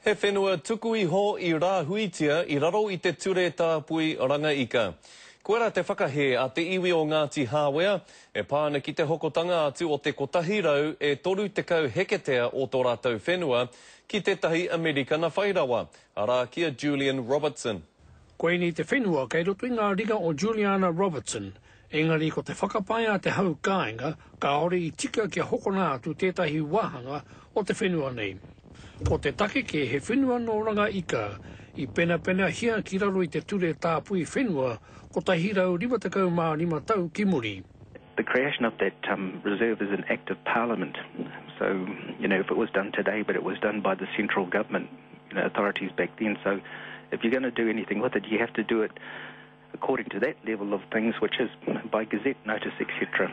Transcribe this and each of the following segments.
He whenua tuku iho i rāhuitia i raro i te Ture Tāpui Ranga Ika. Koirā te whakahē a te iwi o Ngāti Hāwea e pā ana ki te hokotanga atu o te 100 e 30 heketea o tō rātou whenua ki tētahi Amerikana whai rawa, arā, ki a Julian Robertson. Koinei te whenua kei roto i ngā ringa o Juliana Robertson, Engari ko te whakapae a te hau kāinga kāore i tika kia hokona atu tētahi wāhanga o te whenua nei. Ko te take kē he whenua nō Ranga Ika i penapenahia ki raro i te Ture Tāpui Whenua 155 tau ki muri. The creation of that reserve is an act of parliament so you know if it was done today but it was done by the central government authorities back then so if you're going to do anything with it you have to do it according to that level of things which is by gazette notice etc.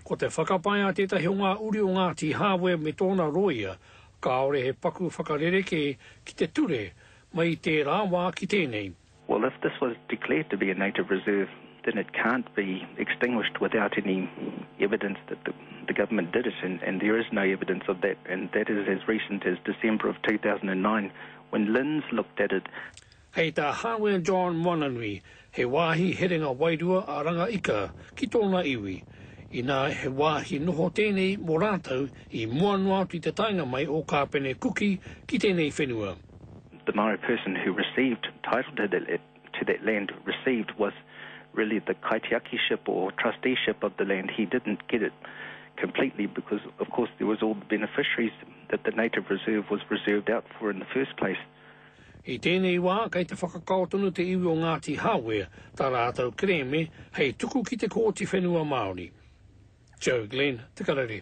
Ko te whakapae a tētahi o ngā uri o Ngāti Hāwea me tōna rōia, kāore he paku whakarerekē ki te ture mai i tērā wā ki tēnei. Well, if this was declared to be a native reserve, then it can't be extinguished without any evidence that the the government did it, and and there is no evidence of that, and that is as recent as December of 2009, when LINZ looked at it. Hei tā Hāwea John Moananui, he wāhi herenga wairua a Rangaika ki tōna iwi, inā he wāhi noho tēnei mō rātou i mua noa atu i te taenga mai o Kāpene Kuki ki tēnei whenua. The Mara person who received title to that to that land received was really the kaitiakiship or trusteeship of the land, he didn't get it completely because of course there was all the beneficiaries that the native reserve was reserved out for in the first place. I tēnei wā, kei te whakakao tonu te iwi o Ngāti Hāwea tā rātou kerēme hei tuku ki te Kōti Whenua Māori. Joe Glenn, Te Karere.